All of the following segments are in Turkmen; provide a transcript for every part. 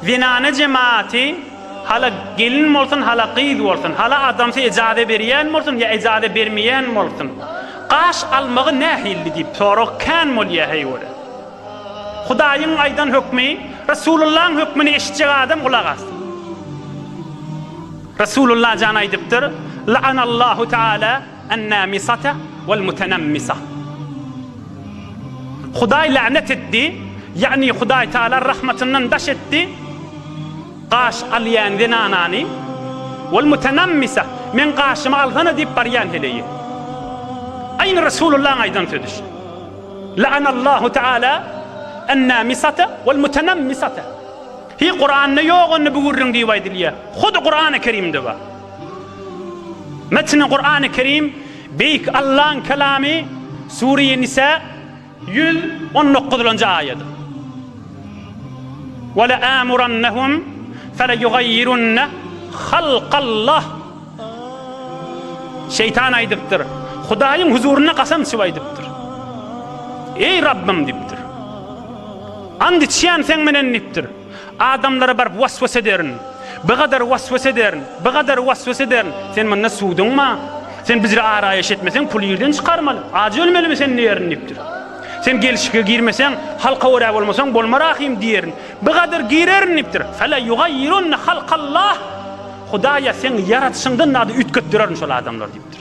Zenana jemaaty hala gelin bolsun, hala gyz bolsun, hala adamsy ejaze berýän bolsun ýa ejaze bermeýän bolsun, gaş almagy nähilli diýip sorag kän bolýar heýwere. Hudaýyň aýdan hökmi, Resulullaň hökmüni eşitjek adam gulak assyn. Resulullah jan aýdypdyr, La'anallahu taala An-namisata wal-mutanammisah. Hudaý länet etdi, ýagny Hudaý Taala rahmatyndan daş etdi, gaş alýan zenanany, wal-mutanammisah, meň gaşymy alsana diýip barýan heleýi. Aýny Resulullahyň aýdan sözi şu. La'anallahu Taala an-namisata wal-mutanammisata. Hi Kuranda ýok onda bu gürrüň diýip aýdylýar. Hudy Kurany Kerimde bar. Metni Kur'an-ı Kerim, Beýik Allaň Kelamy, Sure-i Nisa, ýüz on dokuzynjy aýat. Weleamurannahum feleýugaýýirunne halkallah. Şeýtan aýdypdyr, Hudaýyň huzurynda gasam içip aýdypdyr. Eý Rabbym diýipdir. Ant içýän seň menen diýipdir. Adamlara baryp was-was ederin. Bigadar was-was ederin. Bigadar was-was ederin. Sen munda suwduňma? Sen bizre araýaş etmeseň, puly ýerden çykarmaly. Ajy ölmelimi sen diýerin diýipdir. Sen gelşike girmeseň, halka görä bolmasaň, bolma rahym diýerin. Bigadar girerin diýipdir. Fela ýugaýyrunna halkallah. Hudaýa seň ýaradyşyňdan zady üýtgetdirerin şol adamlar diýipdir.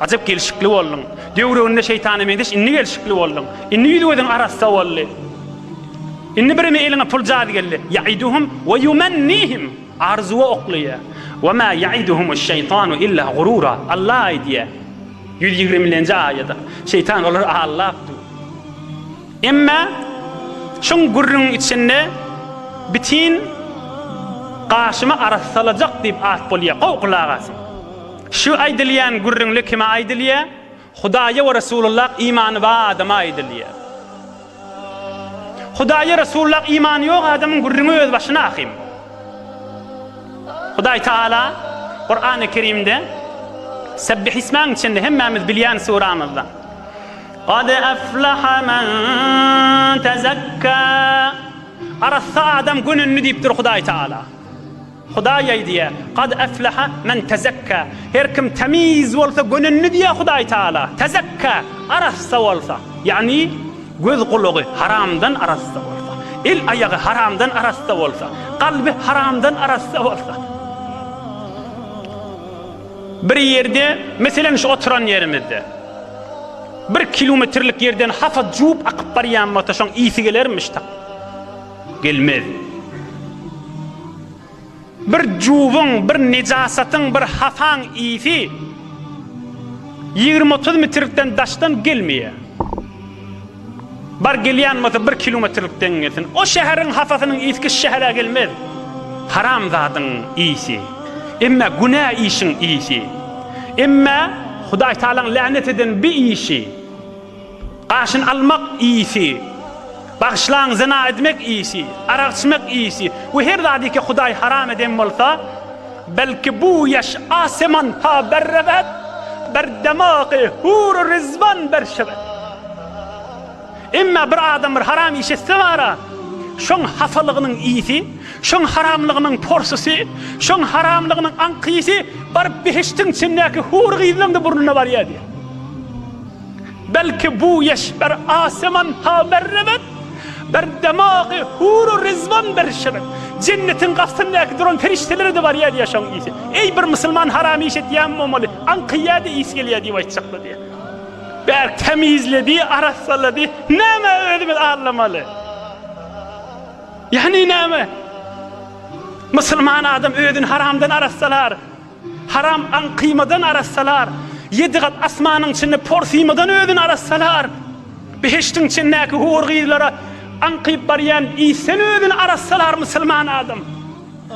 Ajap gelşikli bolduň. Döwrüginde şeýtana meňzeş indi gelşikli bolduň. Indi ýüz-gözüň arassa boldy. Indi birimi eliňe pul jady geldi. Ýaiduhum we ýumannihim. Arzuwa oklaýar. We ma ýaiduhumuş-şeýtanu illa gurura. Allah aýdýar. Ýüz ýigrimilenji aýat. Şeýtan olary aldap dur. Emma şuň gürrüňiň içinde bitin gaşymy arassalajak diýip at bolýar. Gowy gulak asyň. Şu aýdylýan gürrüňde kime aýdylýar? Hudaýa we Resulullah imany bar adama aýdylýar. Hudaýa Resulullah imany ýok adamyň gürrüňi öz başyna ahym. Hudaý Taala Kurany Kerimde Sebbih ismäň içinde hemmämiz bilýän suramyzda Gad aflaha men tezekka Arassa adam gönündi diýipdir Hudaý Taala. Hudaý aýdýar, Kad efleha men tezekka, Her kim temiz bolsa gönendi diýýär Hudaý Tagala, tezekka, arassa bolsa, ýagny göz-gulagy haramdan arassa bolsa, el-aýagy haramdan arassa bolsa, kalby haramdan arassa bolsa. Bir ýerde, meselem şu oturan ýerimizde, bir kilometrlik ýerden hapa juwup akyp barýan bolsa şoň ysy gelermiş tak. Gelmez. Bir juwuň, bir nejasatyň, bir hasaň ysy ýigrimi-otuz mitrlikden daşdan gelmeýär. Bar gelýän bolsa bir kilometrlikden gelsin. O şäheriň hasasynyň ysky şu şähere gelmez. Haramzadyň ysy. Emme günä işiň ysy. Emme Hudaýtagalaň länet eden bi işi. Gaşyn almak iýsi, bagyşlaň zyna edmek iýsi, arak içmek iýsi we her zady ki Hudaý haram eden bolsa, belki bu ýaş aseman ta berrewet bir demagy hur-u rizwan berşewet. Emma bir adam bir haram iş etse bara, şoň hasalygynyň iýsi, şoň haramlygynyň porsysy, şoň haramlygynyň aňkyýsy baryp behiştiň içindäki hur gyzlaň-da burnuna barýar diýýär. Belki bu eşber aseman ha berrebet, Bir demagy huru rizwan berşebet. Jennetiň gapysyndaky duran perişdelere-de barýa diýýär şoň isi. Eý, bir musulman haram iş etýän bolmaly, aňkaýýa-da isi gelýä diýip aýtjaklar diýýär. Bärik tämizledi, arassalady. Nämä özümiz arlamaly? Ýagny näme? Musulman adam özüni haramdan arassalar. Haram aň kyýmadan arassalar, ýedi gat asmanyň içinde por syýmadan özüni arassalar, behiştiň içindäki hur gyzlara aňkyp barýan isden özüni arassalar musulman adam,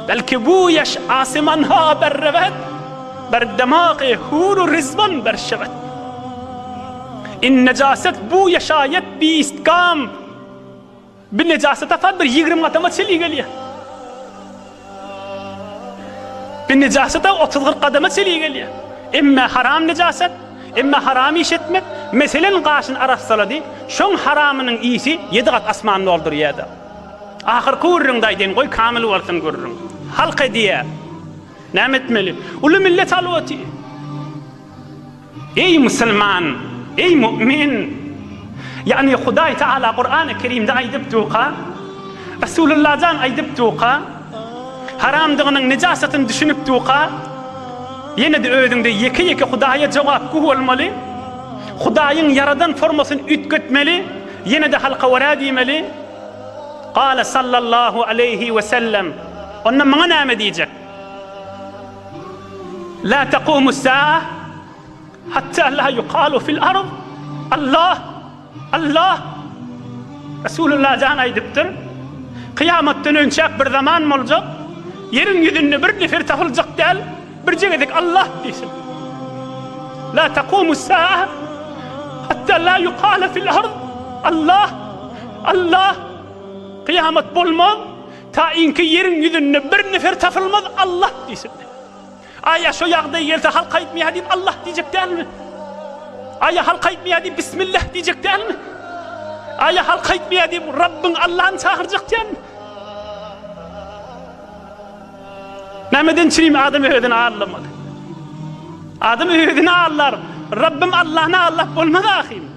belki bu ýaş asymanha berreget, ber demagy huru rizwan ber şewet. In nejaset bu ýaşaýat biistgam. Bir nejasy tapar, bir ýigrimi adama çili gelýär. Bir nejasada otuz-kyrk adama çili gelýär. Emme haram nejasat, emme haram iş etmek, meselen, gaşyny arassalady, şoň haramynyň isi ýedi gat asmany doldurýar-da. Ahyrky gürrüňde aýdaýyn, goý, kamyl bolsun gürrüň. Halk edýär. Näme etmeli? Uly millet alwaty. Eý musulman! Eý mu'min! Ýagny Hudaý Tagala Kurany Kerimde aýdypduka, Resulullah jan aýdypduka, haramdygynyň, nejasatyny düşünipduka, ýene-de özüňde ýeke-ýeke Hudaýa jogapgü bolmaly, Hudaýyň ýaradan formasyny üýtgetmeli, ýene-de halka wara diýmeli. Gale sallallahu aleýhi we sellem. Onda maňa näme diýjek? La taqumus saa hatta la yuqalu fil ard, Allah, Allah. Resulullah jan aýdypdyr, Kyýamatdan önçäk bir zaman boljak, ýeriň ýüzünde bir nefer tapyljak däl, birje gezek Allah diýsin. La taqumus saa hatta la yuqalu fil ard, Allah, Allah. Kyýamat bolmaz. Taýynky ýeriň ýüzünde bir nefer tapylmaz Allah diýsin. Aý ýa şo ýagdaý gelse halk aýtmaýar diýip Allah diýjek dälmi? Aý ýa halk aýtmaýar diýip Bismillah diýjek dälmi? Aý ýa halk aýtmaýar diýip Rabbyň Allahny çagyrjak dälmi? Nämeden çyn adam özüni allamaly? Adam özüni allar. Rabbym Allahny allap bolmaz ahyryn.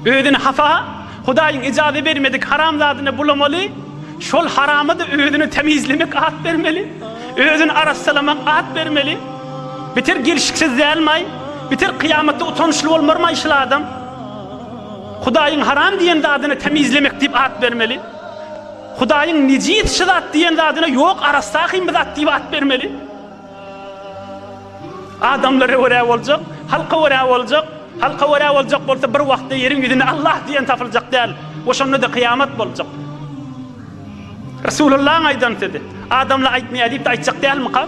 Özüni hapa, Hudaýyň ijazä bermedik haram zadyna bulamaly, şol harama-da özüni temizlemek at bermeli, özüni arassalamak at bermeli. Biter gelşiksiz dälmaý? Biter kyýamatda utançly bolmarmaý şul adam? Hudaýyň haram diýen zadyna temizlemek diýip at bermeli. Hudaýyň nejis şu zat diýen zadyna ýok arassa hym zat diýip at bermeli. Adamlara görä boljak, halka görä boljak, halka görä boljak bolsa bir wagtda ýeriň ýüzünde Allah diýen tapyljak däl we şonda-da kyýamat boljak. Resulyllahyň aýdan sözi, adamlar aýtmaýar diýip-de aýtjak dälmyka?